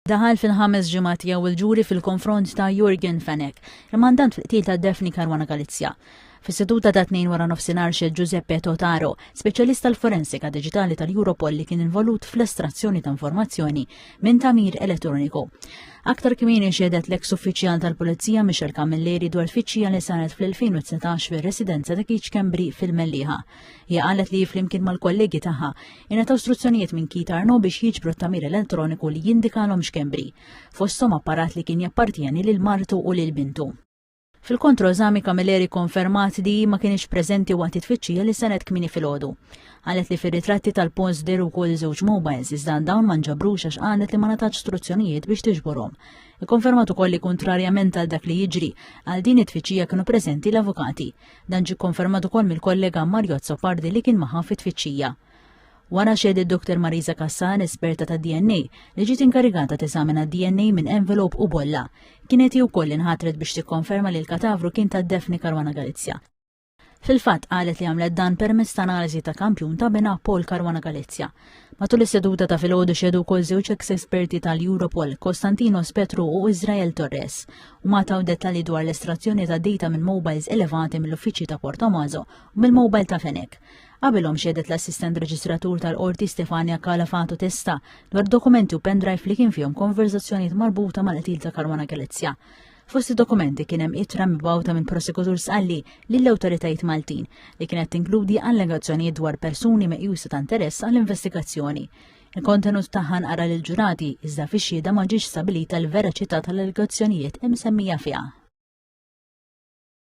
Daħal fil-ħames ġimgħat tiegħu il-ġuri fil-konfront ta' Jurgen Fenech, il-mandant fil-qtil ta' Daphne Caruana Galizia. Fis-seduta ta' tnejn wara nofsinhar xed Giuseppe Totaro, speċjalista l-forensika diġitali tal-Europol li kien involut fl-estrazzjoni ta' informazzjoni minn tamir elettroniku. Aktar kmieni xedet l-eks uffiċjal tal-Pulizija Michel Camilleri dwar tfittxija li saret fl-2019 fir-residenza ta' Kiċ Kembri fil-Melliħa. Hija qalet li flimkien mal-kollegi tagħha ingħataw struzzjonijiet minn Keith Arno biex jiġbru t-tagħmir elettroniku li jindikalhom x'kembri, fosthom apparat li kien jappartjeni lil martu u lil bintu. Fil-kontroeżami Camilleri konfermat li hi ma kinitx preżenti waqt it-tfittxija li saret kmieni filgħodu. Qalet li fir-ritratti tal-post deru wkoll żewġ mobiles iżda dawn ma nġabrux għax qalet li ma ngħatatx struzzjonijiet biex tiġborhom. Ikkonfermat ukoll li kuntrarjament għal dak li jiġri, għal din it-tfittxija kienu preżenti l-avukati. Dan ġie kkonfermat ukoll mill-kollega Mario Azzopardi li kien magħha fit-tfittxija. Wara xedet Dr. Marisa Kassan, esperta ta' DNA, li ġiet inkarigata teżamina DNA minn envelop u bolla. Kienet hi wkoll inħatret biex tikkonferma li l-katavru kien ta' Daphne Caruana Galizia. Fil-fatt qalet li għamlet dan permezz ta' analiżi ta' kampjun ta' bena Paul Caruana Galizia. Matul is-seduta ta' filgħodu xedu wkoll żewġ ex esperti tal-Europol, Kostantinos Petru u Israel Torres, u ma taw dettalji dwar l-estrazzjoni ta' data minn mobiles elevati mill-uffiċċji ta' Portomazo u mill-mobile ta' Fenek. Qabilhom xedet l-assistent reġistratur tal-qorti Stefania Calafatu Testa dwar dokumenti u pendrive li kien fihom konverżazzjonijiet marbuta mal-qtil ta' Karwana Galizja. Fost id-dokumenti kien hemm ittra mibgħuta minn prosekutur Sqalli lill-awtoritajiet Maltin li kienet tinkludi allegazzjonijiet dwar persuni meqjusa ta' interess għall-investigazzjoni. Il-kontenut tagħha nqara lil ġurati iżda fix-xhieda ma ġiex stabilita l-veraċità tal-allegazzjonijiet imsemmija fiha.